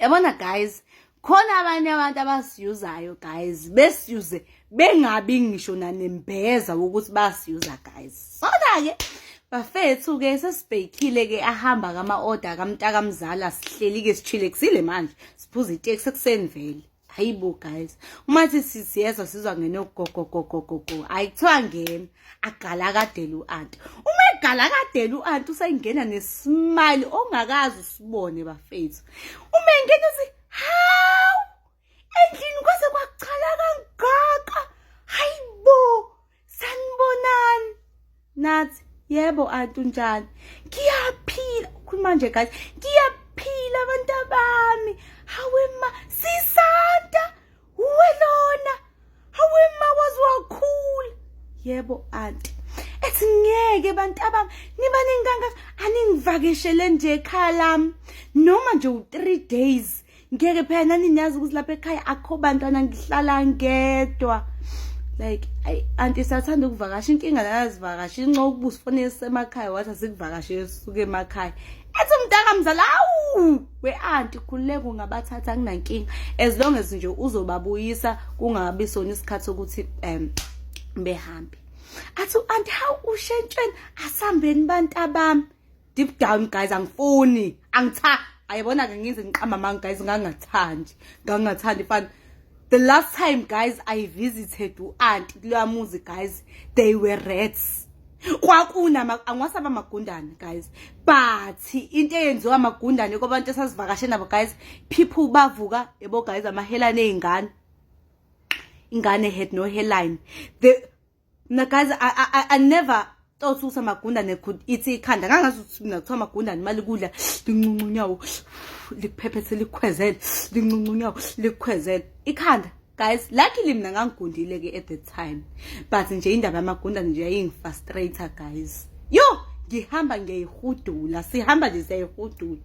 yabona guys khona abanye abantu abasiyuzayo guys besiyuze bengabi ngisho nanembeza ukuthi basiyuza guys sona-ke bafethu-ke sesibhekile-ke ahamba kama-oda kamntakamzala sihleli-ke sishile kusile manje siphuza iteksi ekuseni vele hayi bo guys uma sithi siyezwa sizwa ngene ugogogogogogo hayi kuthiwa ngena agala kadela u-anti uma egala kadela u-anti usengena nesimali ongakazi usibone bafethu uma engena uthi hawu endlini kwaze kwachala kangaka hayi bo sanibonani nathi yebo anti unjani ngiyaphila ukhuluma nje guys ngiyaphila abantu abami hawe ma sisanta uwe lona hawe ma waze wakhula yebo anti ethi ngeke bantu abami niba ninganga aningivakeshele nje ekhaya lami noma nje u-three days ngeke phela nani niyazi ukuthi lapha ekhaya akho bantwana ngihlala ngedwa like ayi anti sathanda ukuvakasha inkinga lana zivakasha inxa ukuba usifonele sisemakhaya wathi asikuvakashe suke emakhaya ethi umntaka mzala awu we-anti khululeka ungabathatha kunankinga as long as nje uzobabuyisa kungabi sona isikhathi sokuthi um behambe athi u-anti hawu ushentshweni asambeni bantabami deep down guys angifuni angitha ayibona ke ngize ngiqamba manga guys ngangathandi ngangathandi fana the last time guys i visited u aunt kuloya muzi guys they were rats kwakuna angiwasaba amagundane guys but into eyenziwa amagundane kwabantu esasivakashe nabo guys people bavuka yebo guys amahelane ey'ngane ingane had no hairline the mna guys I, I, I never thought ukuthi amagundane could ithi ikhanda ngangazi ukuthi mina kuthiwa amagundane imali kudla linxunxa unyawo likuphephethe likukhwezele linxunxa unyawo likukhwezele ikhanda guys luckily mina ngangigundile ke at the time but nje indaba yamagundane nje yayingifrustrator guys yo ngihamba ngiyayihudula sihamba nje siyayihudula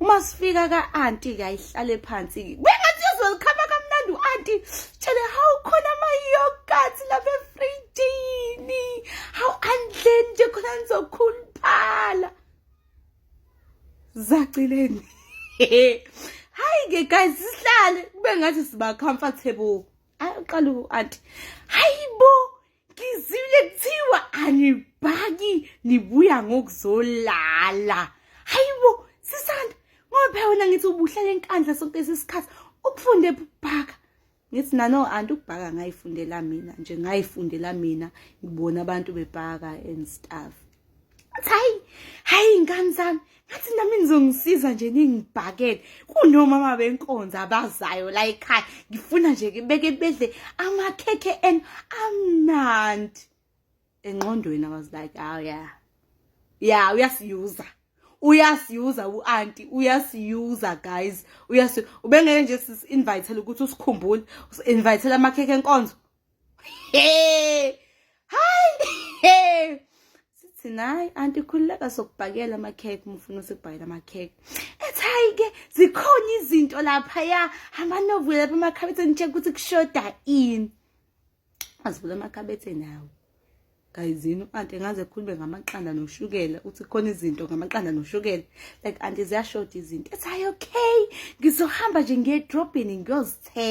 uma sifika ka auntie ke ayihlale phansi bengathi yozolikhama kamnandi u auntie tshele how khona ama yogurt lapha efridini how andleni nje khona nizokhuluphala zacileni hayi ke guys sihlale kube ngathi siba comfortable aqala u auntie hayibo ngizwile kuthiwa anibhaki nibuya ngokuzolala hayibo sisanda ngoba phela wena ngithi ubuhlala enkandla sonke lesikhathi ukufunde ukubhaka ngithi nano anti ukubhaka ngayifundela mina nje ngayifundela mina ngibona abantu bebhaka and stuff ngathi hayi hayi ingane zami ngathi nami nizongisiza nje ningibhakele kunomama benkonzo abazayo la ekhaya ngifuna nje beke bedle amakhekhe en amnandi engqondweni i was like oh yeah yeah uyasiyuza uyasiyuza uanti uyasiyuza guys uyasi ubengeke nje sis invitele ukuthi usikhumbule usinvitele amakhekhe enkonzo Hey! Hi! Hey! Sithi nayi anti khululeka sokubhakela ama cake umfuna usibhayela ama cake. Ethi hayi ke zikhona izinto lapha ya hamba novuke lapha emakhabethe nje ukuthi kushoda ini. Azivula amakhabethe nawo. gayizini u-anti engaze ekhulume ngamaqanda noshukela uthi khona izinto ngamaqanda noshukela like anti ziyashoda izinto ethi hayi okay ngizohamba nje ngiyedrobheni ngiyozithenga